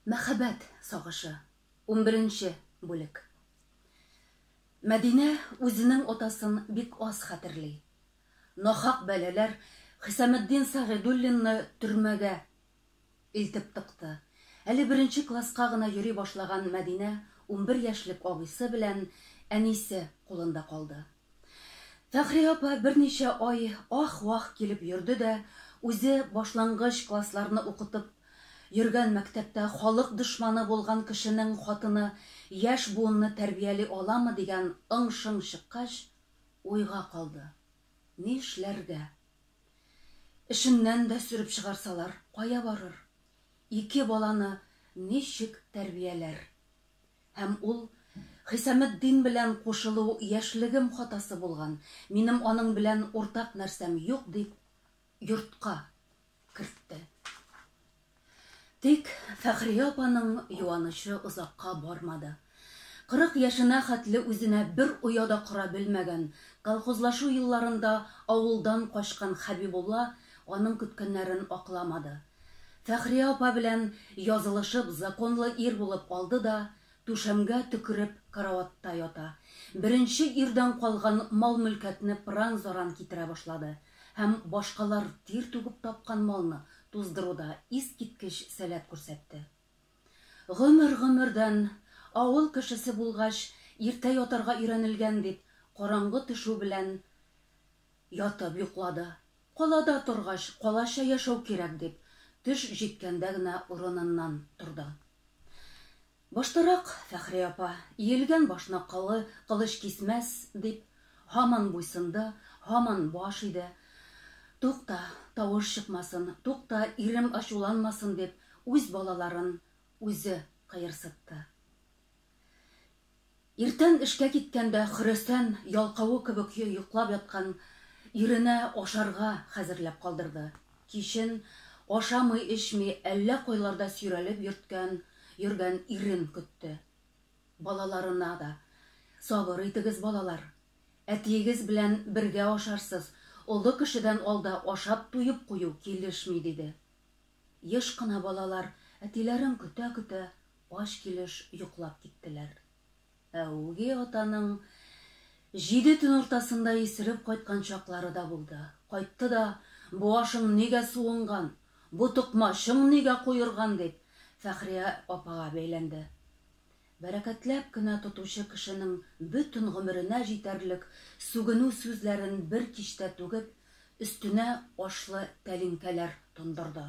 Мәхәббәт сагышы. Унберенче бүлек. Мәдинә үзенең атасын бик аз хәтерли. Нахак бәлаләр Хисаметдин Сәгыйдуллинны төрмәгә илтеп тыкты. Әле беренче класска гына йөри башлаган Мәдинә унбер яшьлек абыйсы белән әнисе кулында калды. Фәхри апа берничә ай ах-вах килеп йөрде дә, үзе башлангыч классларны укытып йөргән мәктәптә халык дошманы булган кешенең хатыны яшь буынны тәрбияли аламы дигән ың-шың чыккач, уйга калды. Нишләргә? Эшеннән дә сөреп чыгарсалар, кая барыр? Ике баланы ничек тәрбияләр? Һәм ул, Хисаметдин белән кушылу яшьлегем хатасы булган, минем аның белән уртак нәрсәм юк, дип, йортка кертте. Тик Фәхрия апаның юанычы озакка бармады. Кырык яшенә хәтле үзенә бер оя да кора белмәгән, колхозлашу елларында авылдан качкан Хәбибулла аның көткәннәрен акламады. Фәхрия апа белән язылышып, законлы ир булып алды да, түшәмгә төкереп караватта ята. Беренче ирдән калган мал-мөлкәтне пыран-заран китерә башлады һәм башкалар тир түгеп тапкан малны туздыруда искиткеч сәләт күрсәтте. Гомер-гомердән, авыл кешесе булгач, иртә ятарга өйрәнелгән бит, караңгы төшү белән Ятып йоклады. Калада торгач, калача яшәү кирәк, дип, төш җиткәндә генә урыныннан торды. Баштарак, Фәхри апа, иелгән башны колы кылыч кисмәс, дип, һаман буйсынды, һаман баш иде. Тукта, тавыш чыкмасын, тукта, ирем ачуланмасын, дип, үз балаларын үзе кыерсытты. Иртән эшкә киткәндә Хөрәсән ялкавы кебек йоклап яткан иренә ашарга хәзерләп калдырды. Кичен, ашамый-эчми, әллә кайларда сөйрәлеп йөрткән йөргән ирен көтте. Балаларына да, Сабыр итегез, балалар. Әтиегез белән бергә ашарсыз, олы кешедән алда ашап туеп кую килешми, диде. Еш кына балалар әтиләрен көтә-көтә Ач килеш йоклап киттеләр. Ә үги атаның җиде төн уртасында исереп кайткан чаклары да булды. Кайтты да, Башың нигә суынган, бу токмачың нигә куерган, дип, Фәхрия апага бәйләнде. Бәрәкәтләп кенә тотучы кешенең бөтен гомеренә җитәрлек сүгенү сүзләрен бер кичтә түгеп, өстенә ашлы тәлинкәләр тондырды.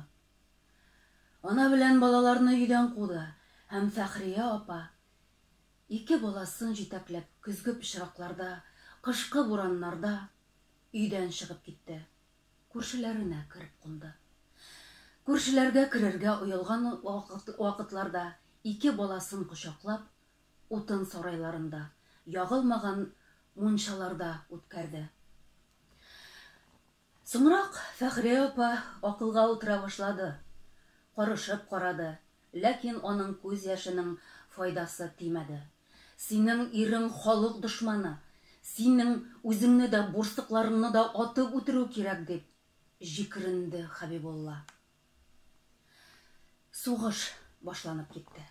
Ана белән балаларны өйдән куды һәм Фәхрия апа, ике баласын җитәкләп, көзге пычракларда, кышкы бураннарда өйдән чыгып китте. Күршеләренә кереп кунды. Күршеләргә керергә оялган вакытларда ике баласын кочаклап, утын сарайларында, ягылмаган мунчаларда үткәрде. Соңрак Фәхрия апа акылга утыра башлады, карышып карады, ләкин аның күз яшенең файдасы тимәде. Синең ирең халык дошманы, синең үзеңне дә, бурсыкларыңны да атып үтерү кирәк, дип җикеренде Хәбибулла. Сугыш башланып китте.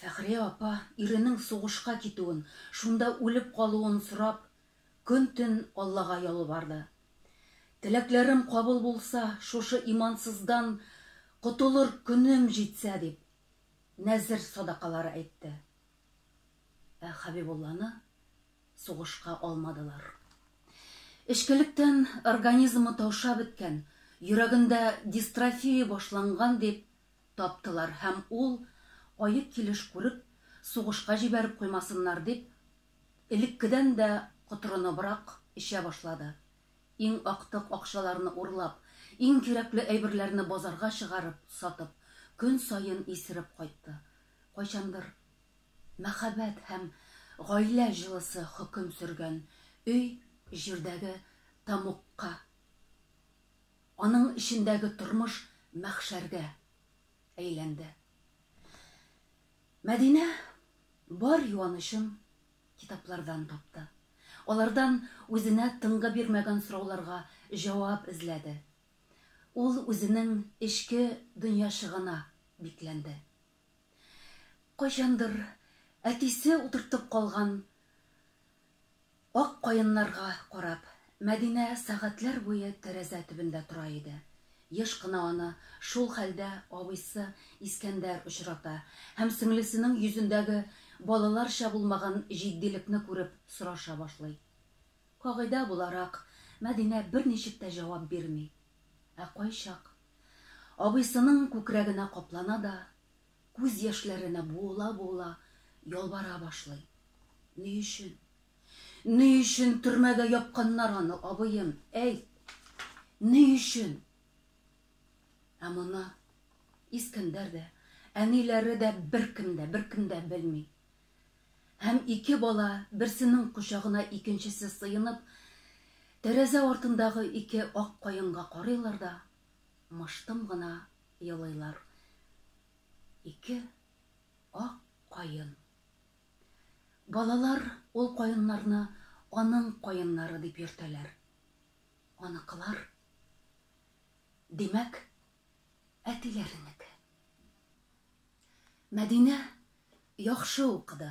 Фәхрия апа, иренең сугышка китүен, шунда үлеп калуын сорап, көн-төн Аллага ялварды. Теләкләрем кабул булса, шушы имансыздан котылыр көнем җитсә, дип, нәзер садакалары әйтте. Ә Хәбибулланы сугышка алмадылар. Эчкелектән организмы таушап беткән, йөрәгендә дистрофия башланган, дип, Таптылар һәм ул, аек килеш күреп, сугышка җибәреп куймасыннар дип, элеккедән дә котырыныбрак эчә башлады. Иң актык акчаларны урлап, иң кирәкле әйберләрне базарга чыгарып, сатып, көн саен исереп кайтты. Кайчандыр мәхәббәт һәм гаилә җылысы хөкем сөргән өй җирдәге тамукка. Аның эчендәге тормыш мәхшәргә әйләнде. Мәдинә бар юанычын китаплардан тапты. Алардан үзенә тынгы бирмәгән сорауларга җавап эзләде. Ул үзенең эчке дөньячыгына бикләнде. Кайчандыр әтисе утыртып калган Ак каеннарга карап, Мәдинә сәгатьләр буе тәрәзә төбендә тора иде. Еш кына аны шул хәлдә абыйсы Искәндәр очрата һәм сеңлесенең йөзендәге балаларча булмаган җитдилекне күреп сораша башлый. Кагыйдә буларак, Мәдинә берничек тә җавап бирми. Ә кайчак абыйсының күкрәгенә каплана да, Күз яшьләренә буыла-буыла ялвара башлый. Ни өчен? Ни өчен төрмәгә япканнар аны, абыем, әйт! Ни өчен? Ә моны Искәндәр дә, әниләре дә беркем дә, беркем дә белми. Һәм ике бала, берсенең кочагына икенчесе сыенып, тәрәзә артындагы ике ак каенга карыйлар да, мыштым гына елыйлар ике ак каен. Балалар ул каеннарны аның каеннары дип йөртәләр. Аныкылар, димәк, әтиләренеке. Мәдинә яхшы укыды.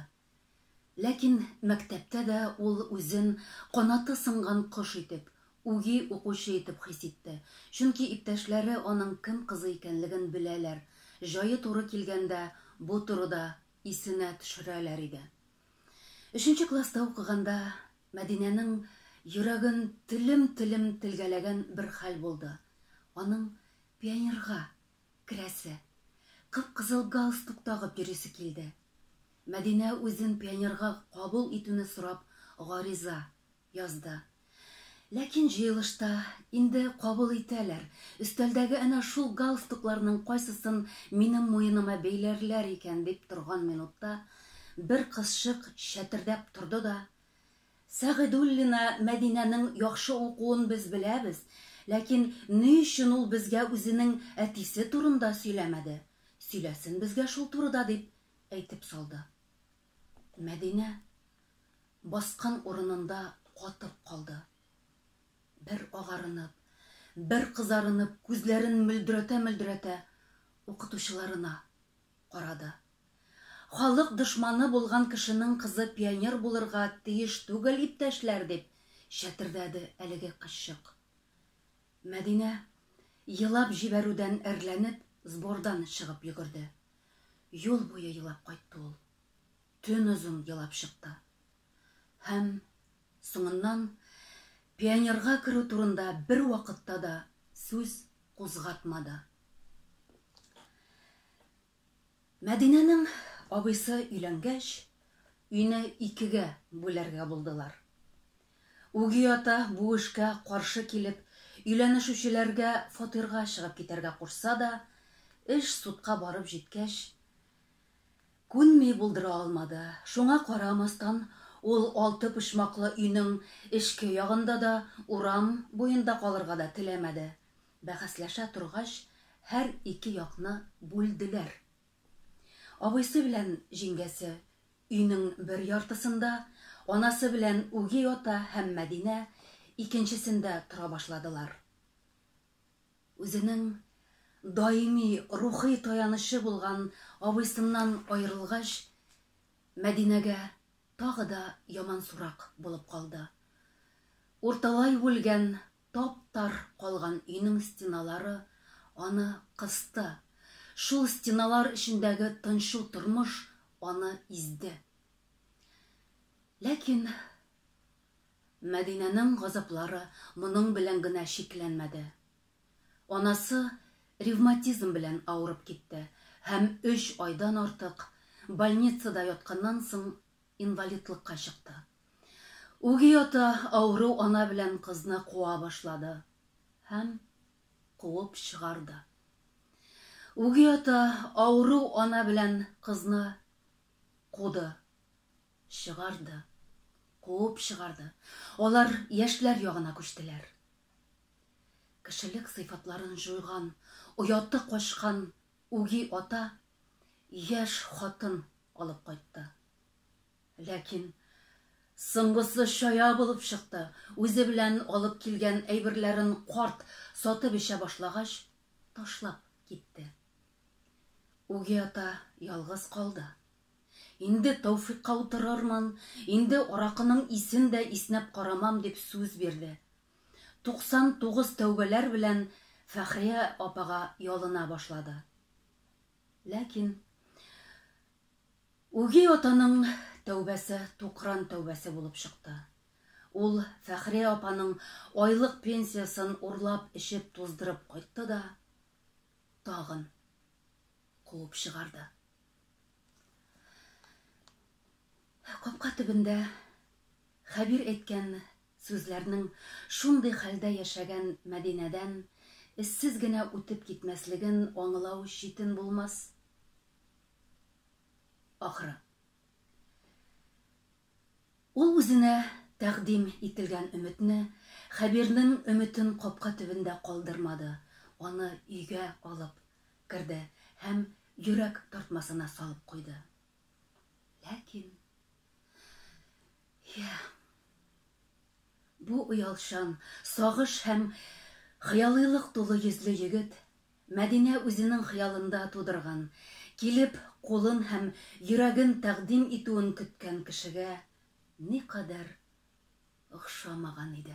Ләкин мәктәптә дә ул үзен канаты сынган кош итеп, үги укучы итеп хис итте, чөнки иптәшләре аның кем кызы икәнлеген беләләр, җае туры килгәндә бу турыда исенә төшерәләр иде. Өченче класста укыганда Мәдинәнең йөрәген телем-телем телгәләгән бер хәл булды, аның пионерга Керәсе, кып-кызыл галстук тагып йөрисе килде. Мәдинә үзен пионерга кабул итүне сорап гариза язды. Ләкин җыелышта, Инде кабул итәләр, өстәлдәге әнә шул галстукларның кайсысын минем муеныма бәйләрләр икән дип торган минутта, бер кызчык чәтердәп торды да, Сәгыйдуллина Мәдинәнең яхшы укуын без беләбез, ләкин ни өчен ул безгә үзенең әтисе турында сөйләмәде? Сөйләсен безгә шул турыда, дип әйтеп салды. Мәдинә баскан урынында катып калды. Бер агарынып, бер кызарынып, күзләрен мөлдерәтә-мөлдерәтә, укытучыларына карады. Халык дошманы булган кешенең кызы пионер булырга тиеш түгел, иптәшләр, дип чәтердәде әлеге кызчык. Мәдинә, елап җибәрүдән әрләнеп, сбордан чыгып йөгерде. Юл буе елап кайтты ул. Төн озын елап чыкты. Һәм, соңыннан, пионерга керү турында бервакытта да сүз кузгатмады. Мәдинәнең абыйсы өйләнгәч, өйне икегә бүләргә булдылар. Үги ата бу эшкә каршы килеп, өйләнешүчеләргә фатирга чыгып китәргә кушса да, эш судка барып җиткәч, күнми булдыра алмады. Шуңа карамастан, ул алты почмаклы өйнең эчке ягында да, урам буенда калырга да теләмәде. Бәхәсләшә торгач, һәр ике якны бүлделәр. Абыйсы белән җиңгәсе өйнең бер яртысында, анасы белән үги ата һәм Мәдинә икенчесендә тора башладылар. Үзенең даими рухи таянычы булган абыйсыннан аерылгач, Мәдинәгә тагы да ямансурак булып калды. Урталай үлгән Тап-тар калган өйнең стеналары аны кысты, шул стеналар эчендәге тынчу тормыш аны изде. Ләкин Мәдинәнең газаплары моның белән генә чикләнмәде. Анасы ревматизм белән авырып китте һәм өч айдан артык больницада ятканнан соң инвалидлыкка чыкты. Үги ата авыру ана белән кызны куа башлады һәм куып чыгарды. Үги ата авыру ана белән кызны куды, чыгарды, куып чыгарды. Алар яшьләр ягына күчтеләр. Кешелек сыйфатларын җуйган, ояты качкан Үги ата яшь хатын алып кайтты. Ләкин соңгысы чая булып чыкты, үзе белән алып килгән әйберләрен карт сатып-эчә башлагач, ташлап китте. Үги ата ялгыз калды. Инде Тәүфикка утырырмын, инде аракының исен дә иснәп карамам, дип сүз бирде. 99 тәүбәләр белән Фәхрия апага ялына башлады. Ләкин үги атаның тәүбәсе тукран тәүбәсе булып чыкты. Ул Фәхрия апаның айлык пенсиясын урлап эчеп туздырып кайтты да тагын куып чыгарды. Капка төбендә Хәбир әйткән Сүзләрнең шундый хәлдә яшәгән Мәдинәдән эзсез генә үтеп китмәслеген аңлау читен булмас, ахры. Ул үзенә тәкъдим ителгән өметне, Хәбирнең өметен капка төбендә калдырмады, аны өйгә алып керде һәм йөрәк тартмасына салып куйды. Ләкин, йә, бу оялчан, сагыш һәм хыялыйлык тулы йөзле егет Мәдинә үзенең хыялында тудырган, килеп, кулын һәм йөрәген тәкъдим итүен көткән кешегә никадәр охшамаган иде.